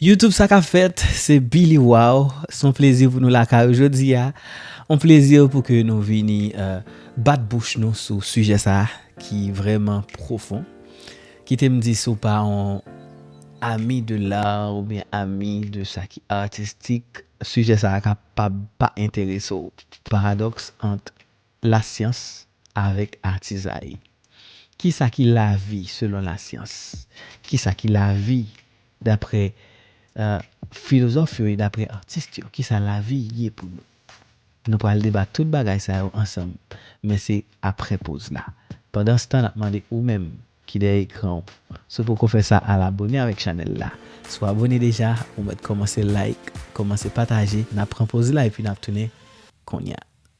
Youtube sa kap fèt se Billy waww son plezi pou nou lakay ou jodia on plezi pou ke nou vini bat bouch nou sou sijè sa ki vrèman pwofon kitem di si w pa on ami de l'art ou byen ami de sa ki artistik sijè sa kapab pa enterese w paradox ant Lasyans avèk atizay Ki sa ki lavi selon lasyans? Ki sa ki lavi daprè filozòf yo e daprè atis yo? Ki sa lavi ye pou nou? Nou pral debat tout bagay sa yo ansanm, men se aprè poz la. Pandanstan, n ap mande ou menm ki dèyè ekran w, si w poko fè sa al abone avèk chanèl la. Si w abone deja, ou mèt kòmanse like, kòmanse pataje. N ap pran poz la epi n ap tounen konnya.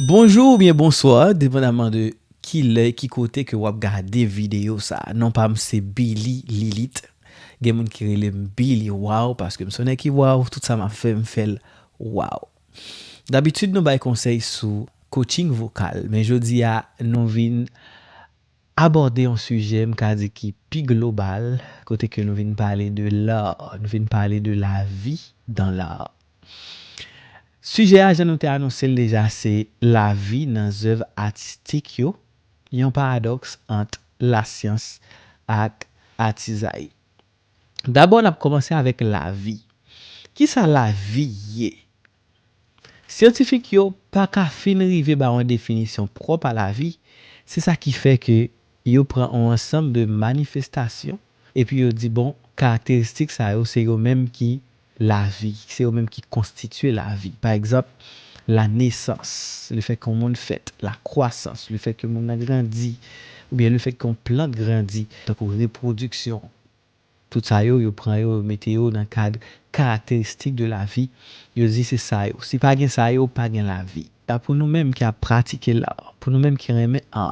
Bonjou oubyen bonswa depandaman de kilè ki kote ke wap gade videyo sa non pam se Billy Lilit gen moun ki relem Billy waw paskem son nèg ki waw tout sa map fè mfèl waw dabitid nou bay konsèy sou coaching vokal men jodia nou vin Abòde yon sijè m ka di ki pi global kote ke nou vin pale de l'art, nou vin pale de la vie dans l'art. Sijè a jan nou te anonse l deja se la vi nan zèv atistik yo, yon paradòks ant lasyans ak atizay. Dabò n ap kòmanse avèk la vi. Kisa la vi ye? Syantifik yo pa ka fin rive ba yon definisyon pwòp a lavi, se sa ki fè ke yo pran yon ansanm de manifestasyon epi yo di bon karakteristik sa yo se yo menm ki lavi, se yo menm ki konstitye lavi. Pa egzanp, la nesans, le fèt ke yon moun fèt, la kwasans, le fèt ke moun nan grandi, oubyen le fèt ke yon plant grandi, tankou repwodiksyon. Tout sa yo, yo pran yo, yo mete yo nan kad karakteristik de lavi, yo di se sa yo. Si pa gen sa yo, pa gen lavi. A pou nou menm ki ap pratike la, pou nou menm ki renmen a,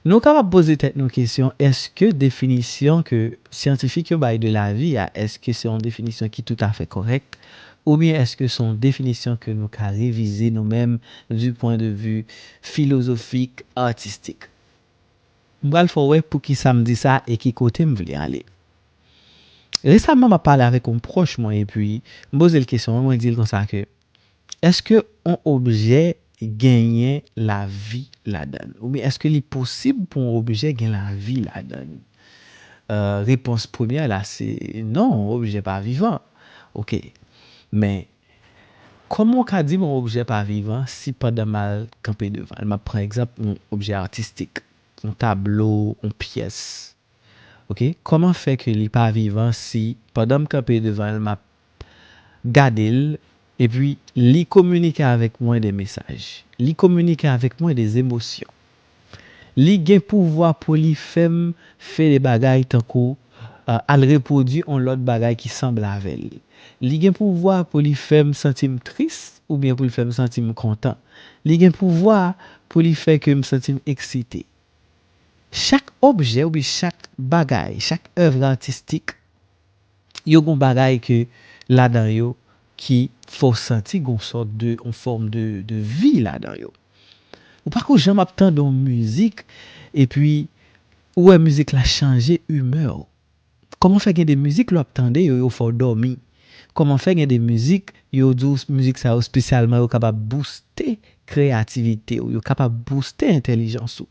nou kapab poze tèt nou kesyon èske definisyon ke syantifik yo bay de lavi a, èske se yon definisyon ki toutafè kòrèk, oubyen èske se yon definisyon ke nou ka revize nou menm di pwen de vi filozofik, atistik. M pral fè w wè poukisa m di sa e ki kote m vle ale. Resaman m ap pale avèk yon pwòch mwen epi m poze l kesyon an mwen di l konsa ke èske yon objè genyen lavi ladan l oubyen èske li posib pou yon objè gen lavi ladan li? Repons premyè la se non yon objè pa vivan. Ok men Kòman ou ka di m yon objè pa vivan si pandan m al kanpe devan l, m ap pran egzanp yon objè atistik, yon tablo, yon pyès, ok, kòman fè ke li pa vivan si pandan m kanpe devan l, m ap gade l epi li kominike avèk mwen de mesaj, li kominike avèk mwen de zemosyon? Li gen pouvwa pou li fè m fè de bagay tankou al repwodui on lòt bagay ki sanble avè l. Li gen pouvwa pou li fè m santi m tris oubyen pou l fè m santi m kontan. Li gen pouvwa pou li fè ke m santi m eksite. Chak objè oubyen chak bagay, chak èvre atistik yo gon bagay ke ladan yo ki fè w santi gon sòt de on fòm de de vi ladan yo. Ou pa ko janm ap tande on mizik epi ou wè mizik la chanje imè w. Kòman fè gen de mizik lè w ap tande yo yo fè w dòmi? Kòman fè gen de mizik yo di w mizik sa yo spesyalman yo kapab bouste kreyativite w, yo kapab bouste entèlijans ou?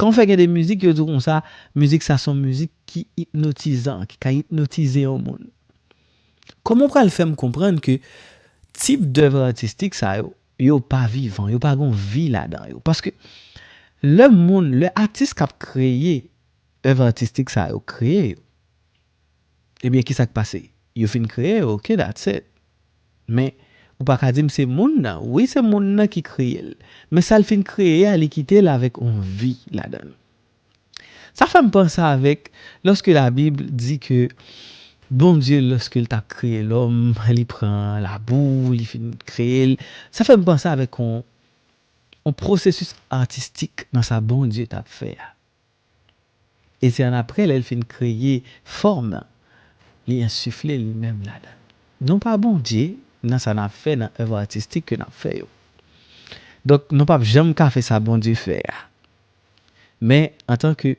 Kan w fè gen de mizik yo di w konsa, mizik sa son mizik ki ipnotizan, ki ka ipnotize yon moun. Kòman w pral fè m konprann ke tip dèv atistik sa yo, yo pa vivan, yo pa gon vi ladan yo? Paske lè moun, lè atis k ap kreye èv atistik sa yo kreye yo, Ebyen kisa k pase? Yo fin kreye l ok that's it. Men ou pa ka di m se moun nan. Wi se moun nan ki kreye l. Men sa l fin kreye a li kite l avèk yon vi ladan l. Sa fè m panse avèk lòske labib di ke Bondye lòske l t ap kreye lòm li pran labou li fin kreye l. Sa fè m panse avèk yon pwosesis atistik nan sa Bondye t ap fè a. E se annapre lè l fin kreye fòm nan, li ensifle li menm ladan l. Nou pa Bondye nan sa n ap fè nan èv atistik ke n ap fè yo. Donk nou p ap janm ka fè sa Bondye fè a. Men antanke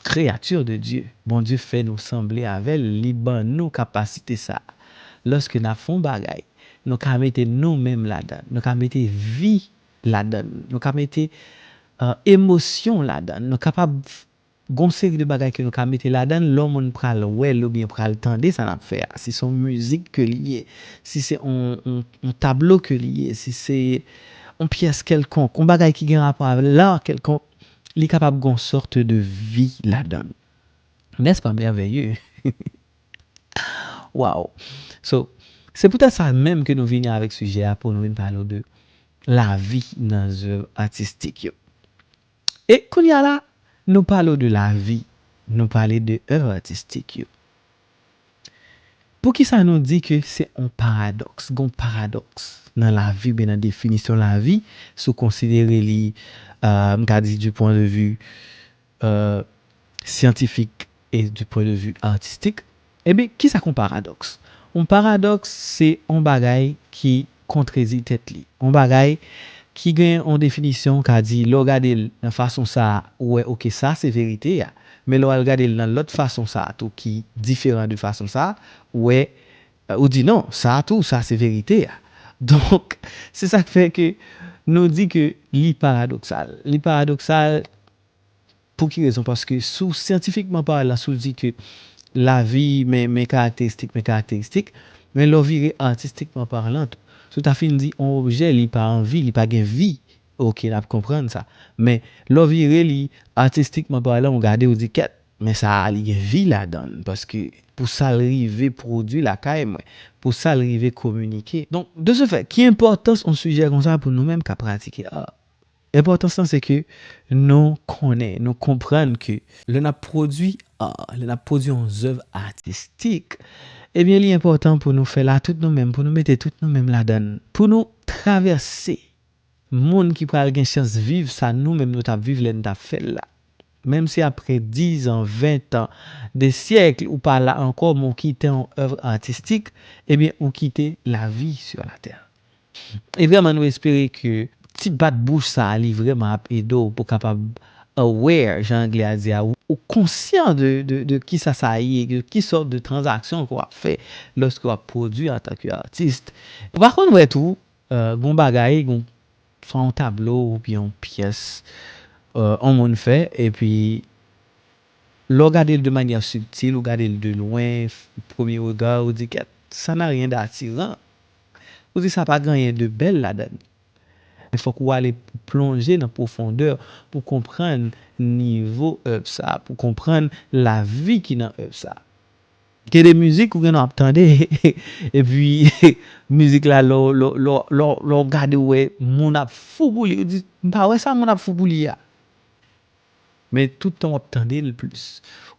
kreyati de Dye, Bondye fè nou sanble avè l, li ban nou kapasite sa a. Lòske n ap fè yon bagay, nou ka mete nou menm ladan l, nou ka mete vi ladan l, nou ka mete emosyon ladan l, nou kapab gon seri de bagay ke nou ka mete ladan l, lè yon moun pral wè l oubyen pral tande sa n ap fè a, si se yon mizik ke li ye, si se yon tablo ke li ye, si se yon pyès kèlkonk, yon bagay ki gen rapò avè l, l'art kèlkonk, li kapab gon sorte de vi ladan l. N'est-ce pas merveilleux? Waw! So, se pou tèt sa menm ke nou vini avèk sijè a pou nou vin pale w de lavi nan zèv atistik yo. E kounye a la, nou pale w de lavi, nou pale de èv atistik yo. Poukisa nou di ke se yon paradòks, gen yon paradòks nan lavi oubyen nan definisyon lavi, si w konsidere li, m ka di di pwen de vi, syantifik e di pwen de vi atistik. Ebyen, kisa k yon paradòks? Yon paradòks se yon bagay ki kontredi tèt li. Yon bagay ki gen yon definisyon ou ka di lè w gade l nan fason sa a ou wè ok sa se verite a, men lè w al gade l nan lòt fason sa a tou ki diferan de fason sa a ou wè ou di non sa a tou sa se verite a. Donk se sa k fè ke nou di ke li paradoksal. Li paradoksal Pou ki rezon? Paske si w syantifikman palan, si w di ke lavi men men karakteristik men karakteristik, men lè w vire atistikman palan tou. Si w ta fin di on objè li pa an vi, li pa gen vi, ok n ap konprann sa. Men lè w vire li atistikman palan ou gade ou di kèt, men sa a li gen vi ladan l paske pou sa l rive pwodui lakay mwen, pou sa l rive kominike. Donk de se fè, ki enpòtans on sijè konsa pou nou menm k ap pratike ar? Enpòtans lan se ke nou konnen, nou konprann ke lè n ap pwodui ar, lè n ap pwodui yon zèv atistik, ebyen li enpòtan pou nou fè la tout nou menm, pou nou mete tout nou menm ladan l, pou nou travèse moun ki pral gen chans viv sa nou menm nou t ap viv lè n t ap fè l la. Menm si apre dizan, ventan, de syèkl ou pa la ankò men w kite yon èvr atistik, ebyen ou kite lavi sur la terre. E vreman nou espere ke ti bat bouch sa a li vreman ap ede w pou kapab aware jan anglè a di a ou konsyan de kisa sa ye, de ki sòt de tranzaksyon ke w ap fè lòske w ap pwodui antan ke atis. Ou pa konn wè tou gen yon bagay gen swa yon tablo oubyen yon pyès yon moun fè epi lè w gade l de manyè sibtil ou gade l de lwen premye rega ou di kèt sa n'a rien d'attirant. Ou di sa pa gen anyen de bèl ladan l. Men fòk ou ale plonje nan pwofondè pou konprann nivo èv sa, pou konprann lavi ki nan èv sa. Gen de mizik ou gen nan ap tande epi mizik la lè w gade ou wè moun ap fou pou li, ou di m pa wè sa moun ap fou pou li a. Men tout tan wap tandel plis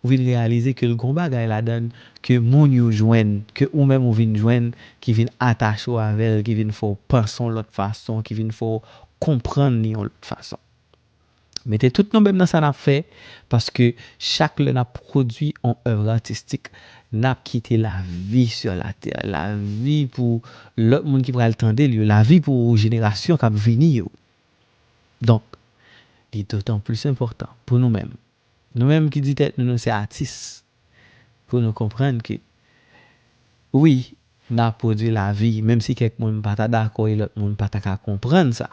ou vin reyalize ke l gon bagay ladann ke moun yo jwenn, ke ou menm ou vin jwenn ki vin atache w avèl, ki vin fè w panse yon lòt fason, ki vin fè w konprann li yon lòt fason. Mete tout nou menm nan sa nap fè paske chak lè nap pwodwi yon èv atistik nap kite lavi sur la terre, lavi pou lòt moun ki pral tandel yo, lavi pou jenerasyon kap vini yo. Donk, li dotan plis enpòtan pou nou menm, nou menm ki di tèt nou nou se atis, pou nou konprann ke wi, n ap pwodui lavi, menm si kèk moun pa ta dakò e lòt moun pa ta ka konprann sa,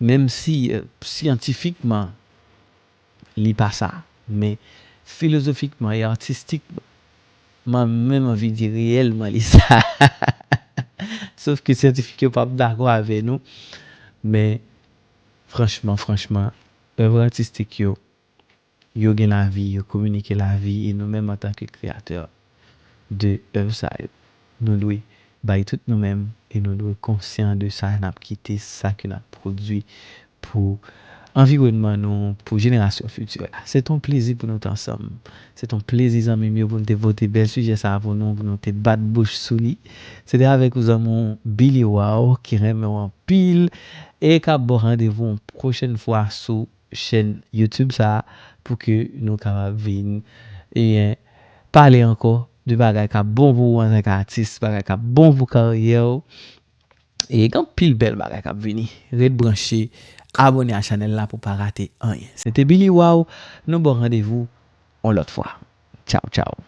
menm si syantifikman Li pa sa. Men, filozofikman e artistikman, mwen menm anvi di reyèlman li sa. Sof ke syantifik yo pap dakò avè nou. Men, franchman, franchman, èvre artistik yo, yo gen lavi, yo kominike lavi e nou menm antanke kreyatè, de èv sa yo. Nou dwe bay tout nou menm e nou dwe konsyan de sa n ap kite, sa ke n ap pwodui pou anviwònman nou, pou jenerasyon fiti yo. Se t on plezi pou nou t ansanm. Se t on plezi zanmi m yo pou n te pote bèl sijè sa a pou nou, pou nou te bat bouch sou li. Se te avèk ou zanmi w Billy Waw ki renmen w anpil e k ap ba w randevou yon pwochèn fwa sou. Chèn YouTube sa pou ke nou kapab vin ebyen pale ankò de bagay kap bon pou ou antanke atis, bagay kap bon pou karyè ou e gen anpil bèl bagay kap vini. Ret branche, abone a chanèl la pou pa rate anyen. Se te Billy Waw, nou baw randevou on lòt fwa. Tchaw tchaw.